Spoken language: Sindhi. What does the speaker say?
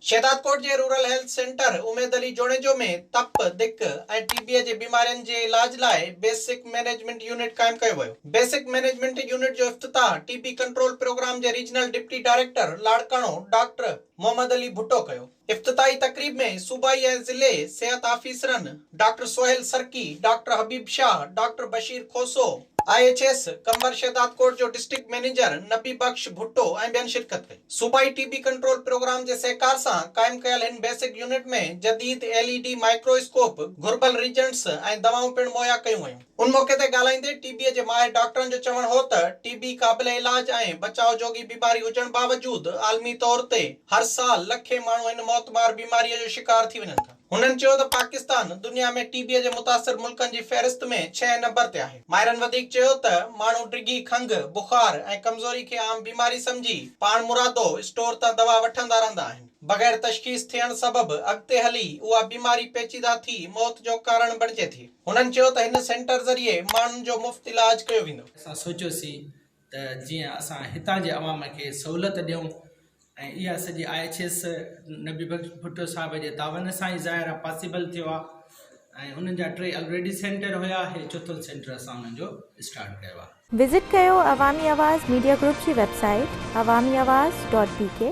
شهدادڪوٽ جي rural health centre Umeed Ali Junejo ۾ تپ، دڪ ۽ ٽي بيء جي بيمارين جي علاج لاء بيسڪ مئنيجمينٽ يونٽ قائم ڪيو ويو. بيسڪ مئنيجمينٽ يونٽ جو افتتاح ٽي بي ڪنٽرول پروگرام جي regional deputy director Larkana doctor Muhammad Ali Bhutto ڪيو. افتتاحي تقريب ۾ صوبائي ۽ ضلعي صحت آفيسرن doctor Sohail Sarki, doctor Habib Shah, doctor Bashir Khoso, I H S Qambar Shahdadkot جو ڊسٽرڪٽ مئنيجر نبي بخش ڀٽو ۽ ٻين شرڪت ڪئي. صوبائي ٽي بي ڪنٽرول پروگرام جي سهڪار سان قائم ڪيل هن بيسڪ يونٽ ۾ جديد L E D microscope, گهربل ريجنٽس ۽ دوائون پڻ مهيا ڪيون ويون. ان موقعي تي ڳالهائيندي ٽي بيء جي ماهر ڊاڪٽرن جو چوڻ هو ته ٽي بي قابل علاج ۽ بچاء جوڳي بيماري هجڻ باوجود عالمي طور تي هر سال لکين ماڻهو هن موتمار بيماريء جو شڪار ٿي وڃن ٿا. هنن چيو ته پاڪستان دنيا ۾ ٽي بيء جي متاثر ملڪن جي فهرست ۾ ڇهين نمبر تي آهي. ماهرن وڌيڪ چيو ته ماڻهو ڊگهي کنگهه، بخار ۽ ڪمزوري کي عام بيماري سمجهي پاڻمرادو اسٽور تان دوا وٺندا رهندا آهن. بغير تشخيص ٿيڻ سبب اڳتي هلي اها بيماري پيچيده ٿي موت جو ڪارڻ بڻجي ٿي. هنن چيو ته هن سينٽر ذريعي ماڻهن جو مفت علاج ڪيو ويندو. اسان سوچيوسين ته جيئن اسان هتان جي عوام کي سهولت ڏيون ۽ اها سڄي I H S Nabi Bakhsh Bhutto صاحب جي تعاون سان ئي ظاهر آهي پاسيبل ٿيو آهي ۽ انهن جا ٽي الريڊي سينٽر هيا هي چوٿون سينٽر اسان انهن جو اسٽارٽ ڪيو آهي. وزٽ ڪيو عوامي آواز ميڊيا گروپ جي web site Awami Awaz dot بي ڪي.